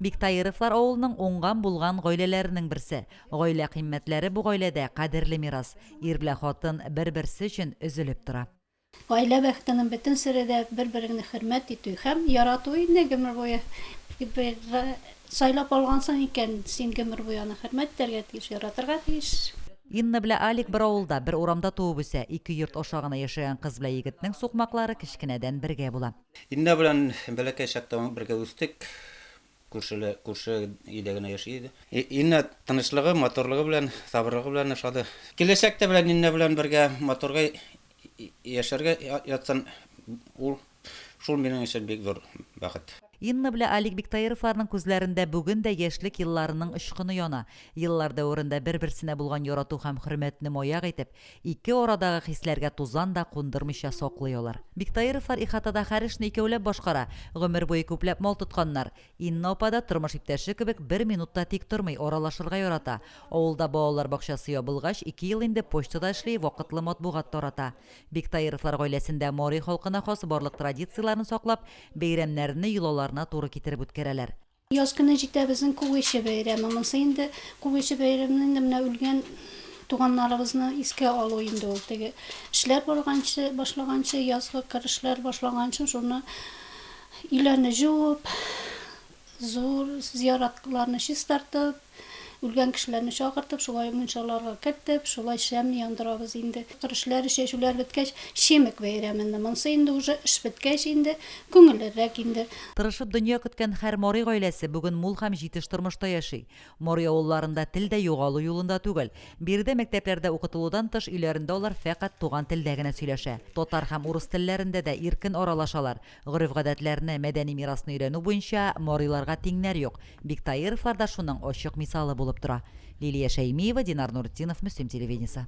Биктаировлар авылының уңган-булган гаиләләренең берсе. Гаилә кыйммәтләре бу гаиләдә кадерле мирас. Ир белән хатын бер-берсе өчен өзелеп тора. Гаилә бәхетенең бөтен сере дә бер-береңне хөрмәт итү һәм ярату инде гомер буе. Бергә сайлап алгансың икән, син гомер буе аны хөрмәт итәргә тиеш, яратырга тиеш. Инна белән Алик бер авылда, бер урамда туып үсә. Ике йорт аша гына яшәгән кыз белән егетнең сукмаклары кечкенәдән бергә була. Илнар белән бәләкәй чакта ук бергә үстек. Күршеле, күрше өйдә генә яши иде. Илнар тынычлыгы, матурлыгы белән, сабырлыгы белән ошады. Киләчәктә белән Илнар белән бергә матурга яшәргә ятсын ул, шул минем өчен бик зур бәхет. Инна белән Алик Биктаировларның күзләрендә бүген дә яшьлек елларының очкыны яна. Еллар дәверендә бер-берсенә булган ярату һәм хөрмәтне маяк итеп, Ике арадагы хисләргә тузан да кундырмыйча саклый алар. Биктаировлар ихатада хәр эшне икәүләп башкара, гомер буе күпләп мал тотканнар. Инна апа да, тормыш иптәше кебек, бер минут та тик тормый, аралашырга ярата. Авылда балалар бакчасы ябылгач, ике ел инде почтада эшли, вакытлы матбугат тарата. Биктаировлар гаиләсендә мари халкына хас барлык традицияләрне саклап, бәйрәмнәрне йолаларына туры китереп үткәрәләр. Яз көне җитә безнең Күгече бәйрәме. Монсы инде Күгече бәйрәмене инде менә үлгән туганнарыбызны искә алу инде ул. Теге эшләр барганчы, башлаганчы, язгы кыр эшләре башлаганчы шуны өйләрне җуып, зур зыяратларны чистартып, Үлгән кешеләрне чакыртып, шулай мунчаларга кертеп, шулай шәм яндырабыз инде. Керешләр, чәчүләр беткәч, Чемек бәйрәмене, монсы инде уже эш беткәч инде, күңеллерәк инде. Тырышып дөнья көткән хәр Марый гаиләсе бүген мул хәм җитеш тормышта яши. Марый авылларында тел дә югалу юлында түгел. Биредә мәктәпләрдә укытылудан тыш өйләрендә алар фәкать туган телдә генә сөйләшә. Татар хәм урыс телләрендә дә иркен аралашалар. Гореф-гадәтләрне, мәдәни мирасны өйрәнү буенча Мариларга тиңнәр юк. Биктаировлар да шуның ачык мисалы булып тора. Лилия Шәймиева, Динар Нуретдинов, Мөслим телевидениесе.